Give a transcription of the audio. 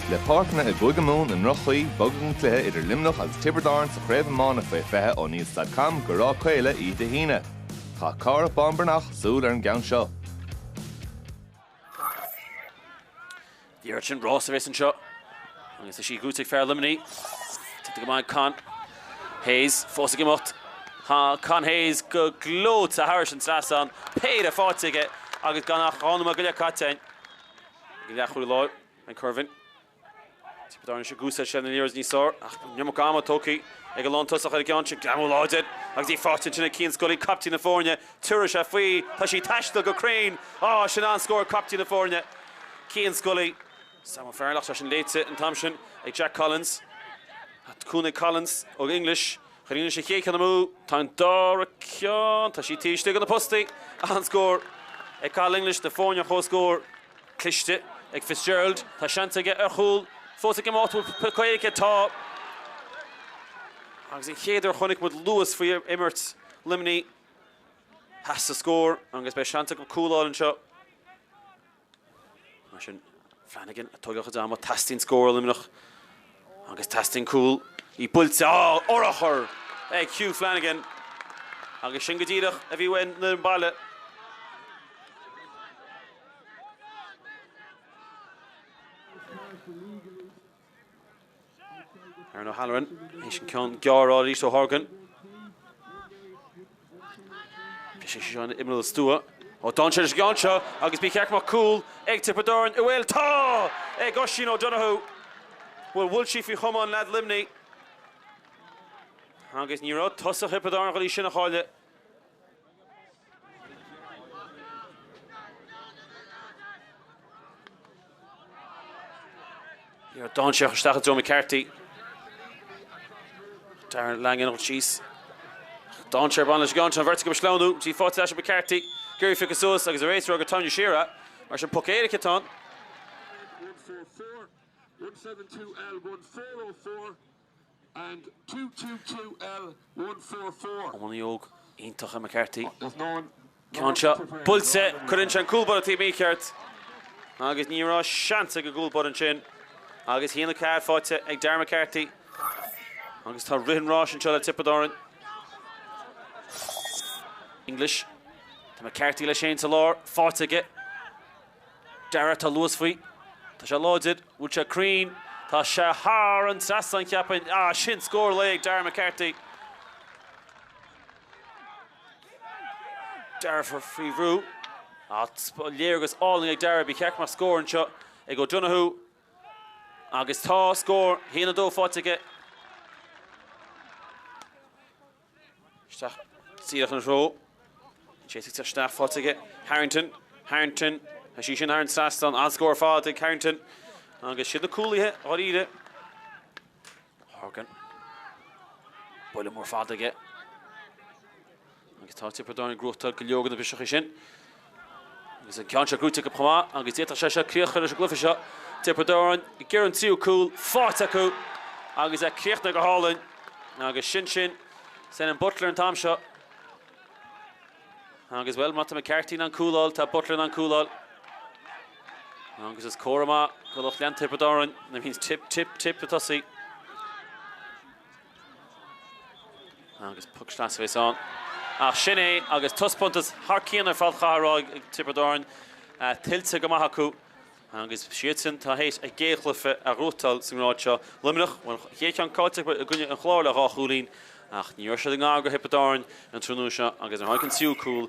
Le páirceanna i gCúige Mumhan i ndroch-chaoi, bogadh an cluiche idir Luimneach agus Tiobraid Árann sa Chraobh Iomána Faoi 20 ó Níl Stad Cam go Ráth Caola oíche Dé hAoine. Chaith Cárthach Bán Breathnach súil ar an gceann seo. Díreoidh sin Ross tar éis anseo agus í ag dul chuig fear Luimnigh. Tógtha go maith ag Con Hayes. Fós ag imeacht. Con Hayes go gleoite thairis an trasnán, péire faighte aige agus gan ach dhá nóiméad go leith caite ann. An leathchúlaí láir Ben Currivan. Tiobraid Árann anseo gúsail sé na Leaders níos soir ach bhí an iomarca ama tógtha ag an lántosaí ar an gceann sin. Greamú láidir agus í faighte ansin ag Cian Scully, caiptín na foirne. Tiúrfaidh sé faoi. Tá sí ag taisteal go cruinn. Á, sin an-scór caiptín na foirne. Cian Scully, Sam O'Farrell ach tá sin léite an t-am sin ag Jack Collins. Cúnamh ag Collins ó English. Chuir sé an chéad cheann amú. Tá an dara ceann, tá sí taobh istigh de na postaí. An-scór ag Cathal English, an dá fhoireann ar chomhscór. Cliste ag Fitzgerald. Tá seans aige ar chúl fós ag imeacht. Bhfuil cic aige? Tá. Agus an chéad uair a chonaic muid luas faoi imirt Luimnigh. Pas sa scór agus beidh seans acu cúl a fháil anseo. Mar sin Flanagan a toigeadh go deá amuigh. Teastaíonn scór ó Luimneach agus teastaíonn cúl. Í buailte. Á! Urchar ag Hugh Flanagan agus sin go díreach a bhí ó mhuintir an bhaile. Aaron O'Halloran, éis an ceann gearr arís ó Horgan. Sé seo an t-imreoir stuama. Ó d'fhan sé leis an gceann seo agus ba cheart go mbeadh cúl ag Tiobraid Árann. Bhfuil? Tá, ag Oisín O'Donoghue. Bhuel, bhuail sí faoi chamán leaid Luimnigh agus ní raibh tosaí Thiobraid Árann ag dul sin a chailleadh. Níor d'fhan sé ach isteach i dtreo McCarthy. Darragh Langan ort síos. D'fhan sé ar a bhoinn leis an gceann sin an bheirt acu ag sleamhnú. Í faighte leis ag McCarthy. Ag iarraidh í a phiocadh suas agus ar aos rua gur tarraingíodh siar é. Mar sin poc éirice atá ann. and two two two L one four four. Iománaí óg iontach é McCarthy. Ceann seo buailte, cuireann sé an cúl báire an taobh mícheart agus ní raibh seans ag an gcúl báire ansin. Agus a haon a ceathair faighte ag Darragh McCarthy. Agus tá rith an ráis anseo le Tiobraid Árann. English. Tá McCarthy leis féin sa lár, faighte aige. Darragh, Tá luas faoi. Tá sé láidir. An bhfuil sé cruinn? Tá sé thar an trasnán, cheapfainn. Ah, sin scór lae ag Darragh McCarthy. Darragh faoi bhrú. Léargas álainn ag Darragh. Ba cheart go mbeadh scór anseo ag O'Donoghue. Agus tá scór! 1-2 faighte aige. Isteach díreach ina threo. Bhí sé ag titim isteach faighte aige. Harrington, Harrington, tá sí sin thar an trasnán. An-scór ar fad ag Harrington. Agus siad na cúlaithe dáiríre. Horgan. Buille mór fada aige. Agus tá Tiobraid Árann ag gnóthachtáil go leor de na briseacha sin. Agus an ceann seo gnóthaithe acu chomh maith agus d'fhéadfadh sé seo críoch a chur leis an gcluiche seo. Tiobraid Árann ag iarraidh an tríú cúl faighte acu agus é críochnaithe go hálainn. Agus sin sin. Senan Butler an t-am seo. Agus bhuel, má tá McCarthy in ann cúl a fháil, tá Butler in ann cúl a fháil. Agus is comhartha maith do lucht leanta Thiobraid Árann. That means Tipp, Tipp, Tipp ag tosaí. Agus puc sleasa a bhéas ann. Ach sin é agus taispeántas thar cionn ar fad curtha ar fáil ag Tiobraid Árann tuillte go maith acu agus siadsan tá tar éis a gcéad chluiche a ghnóthachtáil sa ngrád seo. Luimneach bhuel an chéad cheann caillte acu i gcoinne an Chláir le dhá chúilín ach ní raibh siad i ngar do Thiobraid Árann an tráthnóna seo agus ar tháinig an tríú cúl